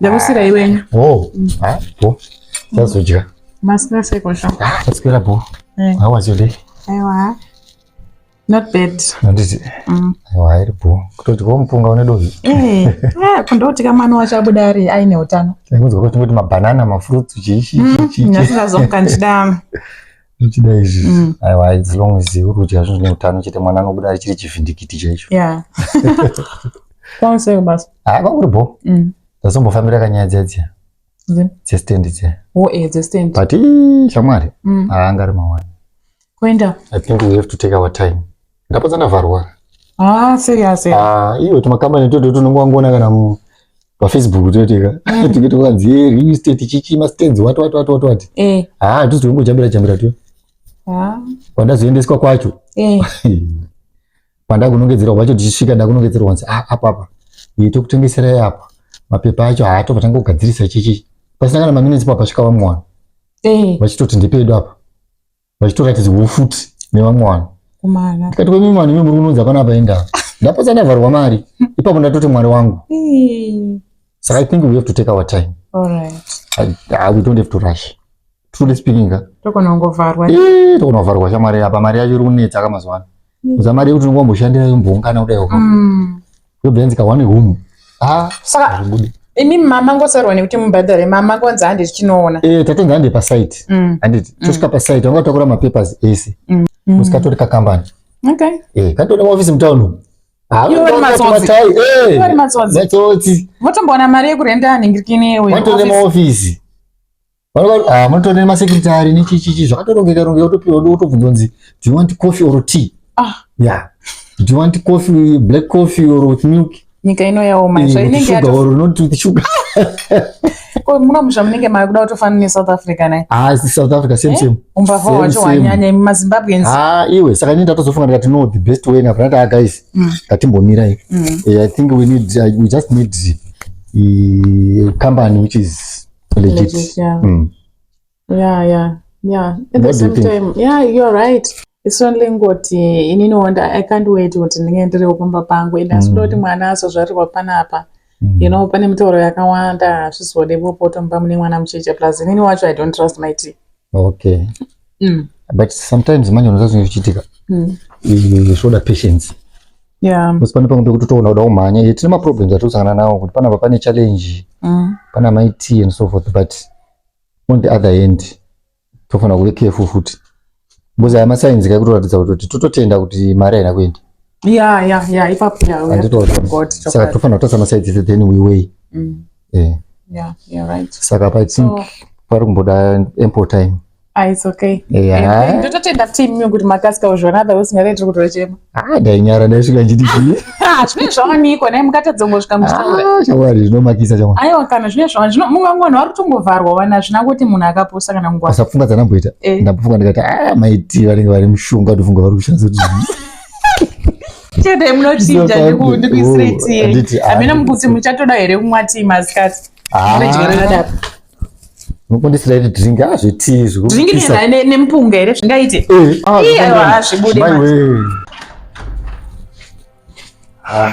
Ndakusira iwenyu. Oh. Mm. Ah, bo. Sazodya. Masina seko sha. Ah, Kusikira bo. Eh. How was your day? Aiwa. Not bad. Handiti. Mm. Aiwa, iri bo. Kutoti ko mupunga une dovi. Eh. Eh, kundoti kama mwana wacho abuda ari aine utano. Ndakunzwa kuti mabanana, mafruits, chichi, chichi. Ndasingazomukandidama. uchida izvi mm. aiwa as long as uri kudya zvinhu zvine utano chete mwana anobuda chiri chivhindikiti chaicho kwauseko basa haa kwakuri bo mm. ndazombofambira kanyaya dziya dziya dzestand dziya oh, eh, dzestand but shamwari mm. haangari mawani kuenda i think we have to take our time Ndapo dzanavharwa. Ah, serious. Eh? Ah, iyo tumakambani toto tunongwangona kana mu pafacebook toiteka mm. tinge tokanzi ye real estate chichi mastands wati wati wati wati wati eh. ah tuzi tongojambira jambira tu ah. kwandazoendeswa kwacho eh. kwandakunongedzerwa kwacho tichisvika ndakunongedzerwa kwanzi ah, apa apa iye tokutengeserai apa mapepa acho haatopatanga ah, kugadzirisa chichi pasina kana maminitsi papasvika vamwana eh. vachitoti ndipedu apa vachitoratidzwawo futi nevamwe vanhu kumana ndikati kwemimi vanhu imi muri kunonzi hapana paenda ndapotsa ndavharwa mari ipapo ndatoti mwari wangu so i think we have to take our time Alright. I, I, we don't have to rush truly speaking ka tokona kungovharwa tokona kuvharwa shamwari apa mari yacho iri kunetsa ka mazuva ano zamari yekuti unenge wamboshandira yomboungana kudai waka mm. zvobenzi ka one room ah saka zvibude imi mama ngoserwa nekuti mubhadhare mama ngonzi handi tichinoona eh tatenga handi pasite mm. handiti mm. tosvika pasite wanga takura mapapers ese mm. mm. usikatori kakambani okay eh katori office mutown umu ah, eh, matsotsi votomboona mari yekurenda ningirikini uyo maofisi Ah, munotoona nemasekretari nechichichi zvakatorongeka rongeka wotopiwa wotobvunza kunzi do you want coffee or tea ah. yeah do you want coffee black coffee or with milk nyika ino yaoma izvo eh, inenge sugar or not with sugar ko muno musha munenge mari kuda kutofanana nesouth africa naye ah south africa same eh? same umbavha wacho wanyanya imi mazimbabweans ah iwe saka ini ndatozofunga ndikati no the best way ngapana ta ah, guys mm. ngatimbomirai mm. eh, i think we need uh, we just need a company which is legit, legit yeah. Mm. yeah yeah yeah at the same time yeah you're right it's only ngoti inini wonda i can't wait kuti ndinge ndiriwo pamba pangu and asi mm. kuti mwana azozvarirwa panapa mm. you know pane mitauro yakawanda hazvizode vopotomba mune mwana mucheche plus inini wacho i don't trust my tea okay mm. but sometimes manje unoza zvinhu zvichiitika mm. zvoda patience bcause pane pamwe pekuti toona kuda kumhanya ye tine maproblems atikusangana nawo kuti panapa pane challenge mm. pana mai t and so forth but on the other hand tofanira kuve careful futi bcause aya masainzi kai kutoratidza kutoti tototenda kuti mari haina kuenda ya ya ya ipapo ya anditoosaka tofanira kutarisa masainzi then we way mm. yeah. Yeah, you're right. Saka pa think so, pari kumboda ample time. Ah, it's okay. Yeah. Ndototenda team mimi kuti makaska uzvona otherwise singade tiri kutora chema. Ah, dai nyara dai svika nditi chii. Ah, zvine zvaoniko naye mukatadza kungosvika muchitaura. Ah, chawari zvinomakisa chama. Aiwa kana zvine zvaoniko. Zvino mumwe mwana wari kutongovharwa wana zvina kuti munhu akaposa kana ngwa. Asafunga dzanamboita. Eh. Ndapofunga ndikati ah maiti vanenge vari mushonga ndofunga vari kushandisa kuti. chete munochinja ndikuisiretiye oh, hamina mukuti muchatoda here kumwa tii masikati ah. mukundisireti drink hazvitii zvikunempunga here zvingaite eh, ah, aiwa hazvibude ah,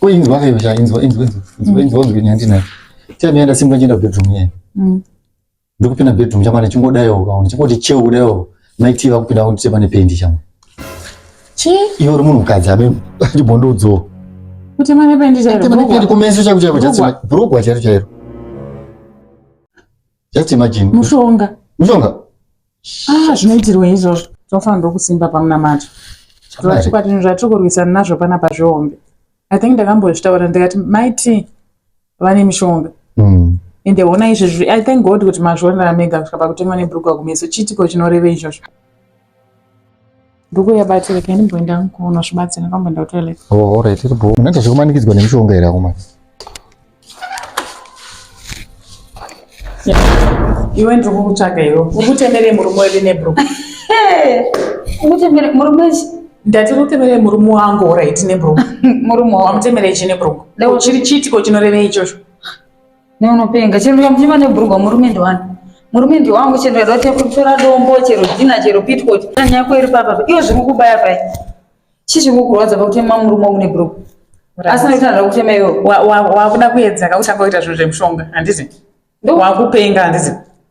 kuinzwa kaiva chainzwa inzwa inzwa inzwa inzwa inzwa nyandi nayo tiyani yenda simba njenda bedroom yenda mm. ndikupinda bedroom chamana chingodayo ukaona chingoti cheu kudayo maiti vakupinda kuti pane pendi chamwe chi iwe uri munhu mukadzi abe achibondodzowo kuti mane pendi chairo kumeso chako chako chatsima brugwa chairo chairo Just imagine. Mushonga. Mushonga. Ah, zvinoitirwa izvozvo. Tinofanira ndokusimba pamunamato. Zvatikwati zvatiri kurwisana nazvo panapa zvihombe. I think ndakambozvitaura ndikati maiti vane mishonga. Mm. Ende hona izvezvi I thank God kuti mazvionera mega kusvika pakutengwa nebhurugwa kumeso. Chiitiko chinoreva izvozvo. Ndugu yabatsira kani mboenda nkuno zvibatsira kamboenda kutoilet. Oh, all right, bro. Unaita zvekumanikidzwa nemishonga here akomana? Iwe ndiri kukutsvaga iwe. Ukutemerei murume wedu nebro? Ukutemerei murume ndati kutemerei murume wangu all right nebro? Murume wangu. Wamutemerei chine bro? Chiri chiitiko chinorevei ichocho? Ne unopenga chero ndikamuchema nebhurugwa murume ndiwani murume ndiwangu chero ndikada kuti kutora dombo chero dhina chero pitcot nyaya yako iri papa iwe zviri kukubaya pai chii chiri kukurwadza pakutema murume wangu nebhurugwa asi noita ndada kutema iwe wakuda kuedza ka uchangoita zvinhu zvemushonga handizi ndowakupenga handizi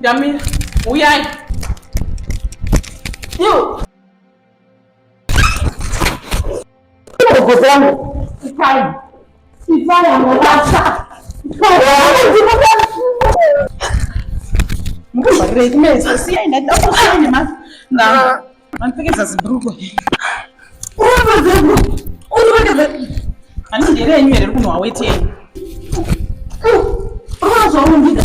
Ndamira, uyai. Yo. Manipfekedza zibrugwa. Ani ndere yenyu here kunwa weti yenyu. Unazvarumbidza.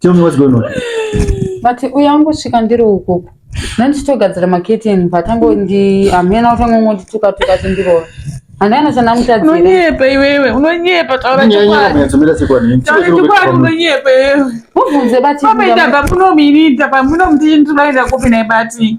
Tell me what's going on. But uya ungosvika ndiri ukoko. Nandichitogadzira maketeni but angondi amhena utanga ungondituka tuka tindirova. Handana chana mutadzira. Unonyepa iwewe, unonyepa taura chokwadi. Taura chokwadi unonyepa iwewe. Mubvunze bati. Pameita bamuno minita pamuno mtini tunaenda kupi naye bati.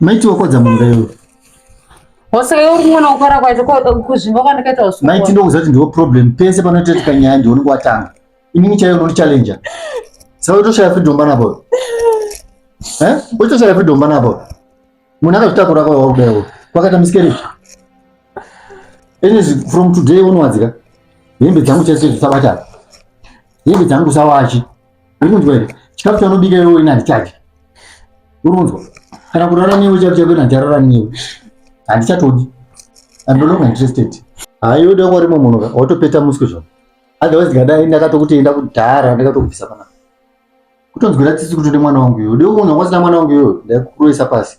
Maitiwo kodza munhu iwe. Hose wewe unoona kukora kwacho kuzvimba kwandakaita usiku. Maiti ndokuziva kuti ndiwo problem pese panotetika nyaya ndiwo unenge watanga. Inini chaiyo unoti challenger. Saka utoshaya freedom bana boy. Eh? Utoshaya freedom bana boy. Munhu akazvitakura kwa wakudayo. Kwakaita miskeri. Ini from today unowadzika. Hembe dzangu chese dzisabata. Hembe dzangu sawachi. Arikunzwa here? Chikafu chaunobika iwe ina ndichadya. Urunzwa. Kana kurara newe chikafu chako ina ndicharara newe. Handichatodi. I'm no longer interested. Hayi uda kwari munhu ka watopeta muswe zvako. Otherwise ndikadai ndakatokuti enda kudhara ndakatokubvisa pana. Kutonzwira tsitsi kuti ude mwana wangu iwe. Ude kuona kwasina mwana wangu iwe ndakuroisa pasi.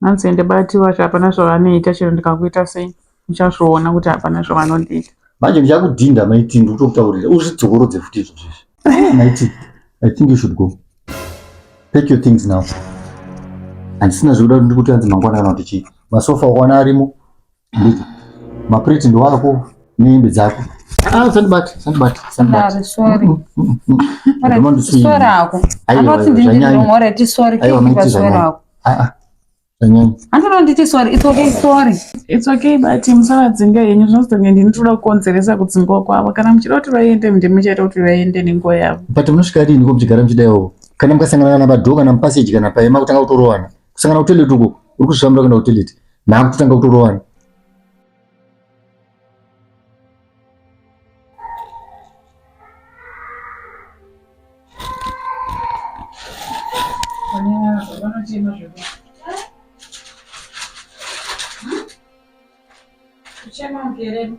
hanzi ende bati vacho hapana zvavanoita chero ndikakuita sei uchazviona kuti hapana zvavanondiita manje ndichakudhinda maiti ndikutokutaurira uzvidzokorodze futi izvo zvizvi eh, maiti i think you should go take your things now handisina zvekuda kuti ndikuti hanzi mangwana kana kuti chii masofa okwana arimo Nditi, maplate ndo ako nehembe dzako. Ah, usandibate, usandibate, usandibate. Sorry, sorry. Mm, mm, mm. All right, Ndoma ndiswiri. sorry ako. Aiwa, Anoti aiwa, ndini zvanyanya. ndiri wrong, all right, sorry, Aiwa, keep maiti it, sorry zvanyanya. ako. Ah, ah, zvanyanya. Anoti nditi sorry, it's okay, sorry. It's okay but musavadzinga henyu zvinozotanga ndini tinoda kukonzeresa kudzingwa kwavo kana muchida kuti vaende ndimi muchaita kuti vaende nenguva yavo. But munosvika riniko muchigara muchidaiwo? Kana mukasangana kana padhoo kana mupaseji kana paye makutanga kutorohwana. kusangana kutoilet uko uri kuzvifambira kuenda kutoilet nhaku totanga kutorovana Chama um querendo.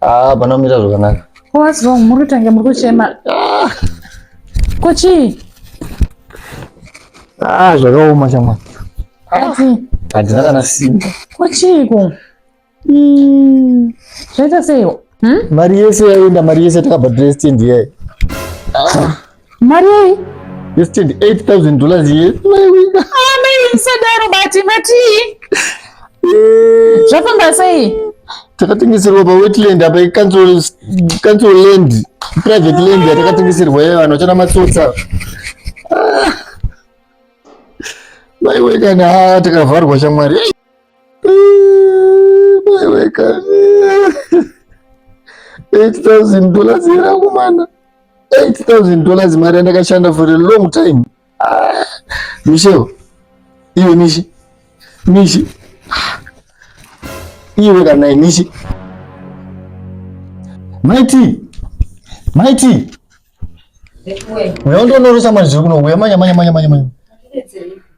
Ah, pana mira zvakanaka. What's wrong? Muri kutange muri kuchema. Ah. Kochi. Ah, zvakaoma shamwa. Ati. Handina kana simba. Kochiko. Mm. Zvaita sei? Hmm? Mari yese yaenda, mari yese takabva dress team ndiye. Ah. mari yei yesterday 8000 dollars ye maiwina ah maiwina sadaro bati mati eh. zvafamba sei takatengeserwa pawetland apa icouncil land private land yatakatengeserwa ye vanhu vachana matsotsa ah. maiwe kana takavharwa shamwari eh, maiwe kana 8000 dollars yerakumana 8000 dollars mari yandakashanda for a long time ah, michel iwe mishi mishi iwe kana inishi maiti maiti uya undonoresa manje kuno uya manya manya manya manya manya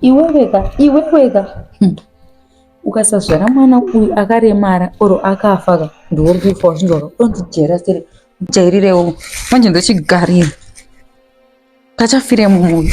iweweka iweweka hmm. ukasazvara mwana uyu akaremara or akafa ka ndiwori kufa uchinzwaka unondijera sere jairirewo manje ndochigarira kachafire mumwe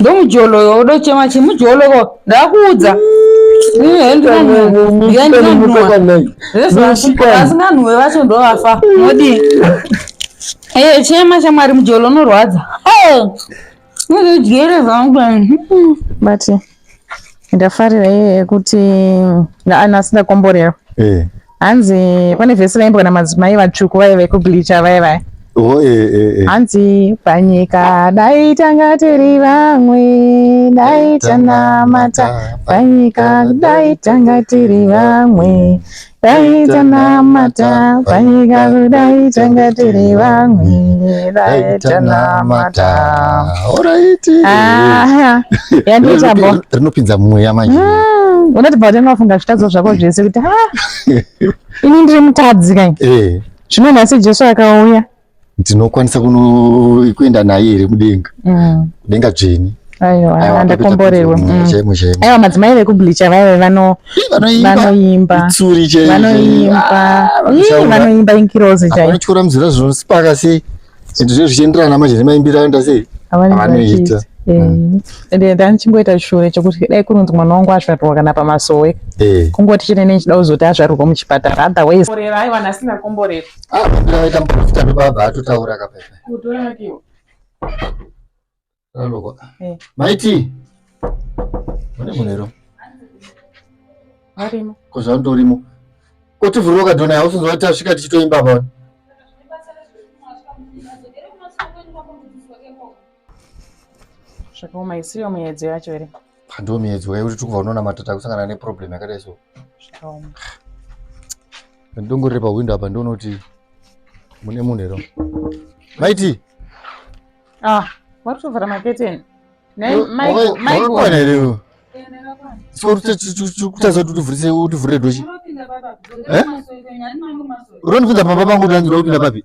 ndomujoloyo udochema chi mujoloko ndakuudza asinganhuwe vacho ndovafa modi ee chema chamwari mujolo unorwadza unozodyere vangu bati ndafarira iye yekuti naanasi ndakomborerwa eh. hanzi pane vhesi raimbwa namadzimai vatsvuku vaive kubleacha vaya vaya oh, eh, eh, hanzi panyika dai tanga tiri vamwe dai tanamata panyika dai tanga tiri vamwe Dai tanamata panyika kudai tanga tiri vamwe dai tanamata Alright. Ah, yandiita bo Rinopi- Rinopinza mweya manje. Mm, unotibva kuti unofunga zvitadzo zvako zvese kuti ha ini ndiri mutadzi kai Eh. zvino nhasi jesu akauya ndinokwanisa kuenda naye here mudenga mm. kudenga dzveni aiwa ndakomborerwa mm. aiwa madzimai vekublicha vaive vanoimba vanoimba vanoimba ah, inkirozi chaityora muzira zvinopaka sei zvinhu zviye zvichienderana manje nemaimbiro aenda sei avanoita mm. ende ndanichingoita shure chekuti dai kunonzi mwana wangu azvarirwa kana pamasowe eh. kungoti chete nechida kuzoti azvarirwa muchipatara otherwise aiwa nhasi ndakomborerwa Ah, vambira vaita muporofita ndobaba atotaura kapaipa. Kutora yake. Aloko. Eh. Maiti. Mune munero. Arimo. Kozvandorimo. Koti vhuroka dona house nzwa tasvika tichitoimba pa. Zvakaoma isiyo muyedzo yacho here? Ndiwo miedzo yekuti tiri kubva unonamata takusangana neproblem yakadai so. Zvakaoma. Ndongorere pahwindo apa ndiono kuti mune munhu here. Maiti. Ah, wari kutovhara maketeni. Nei, mai, mai. Wakakwana here iwe? kutadza kuti utivhurise utivhurire doshi eh? uronipinza pamba pangu kuti anzi ndokupinda papi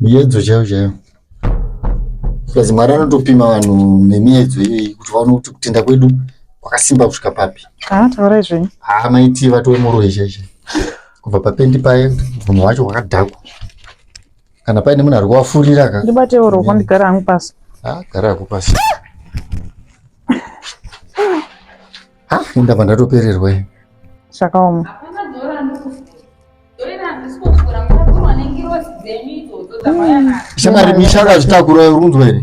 Miedzo chaiyo chaiyo. Plus Mwari anotopima vanhu nemiedzo iyoyi kuti vaone kuti kutenda kwedu kwakasimba kusvika papi. Ah, taurai zvenyu. Haa maiti vatove muroyi chaichai. Kubva papendi paye munhu wacho wakadhakwa. Kana paine munhu ari kuvafurira ka. Ndibatewo roko ndigara hangu pasi. Ah, gara hako pasi. Ah, ini ndabva ndatopererwa ini. Zvakaoma. shamari misha akazvitakura uri kunzwa here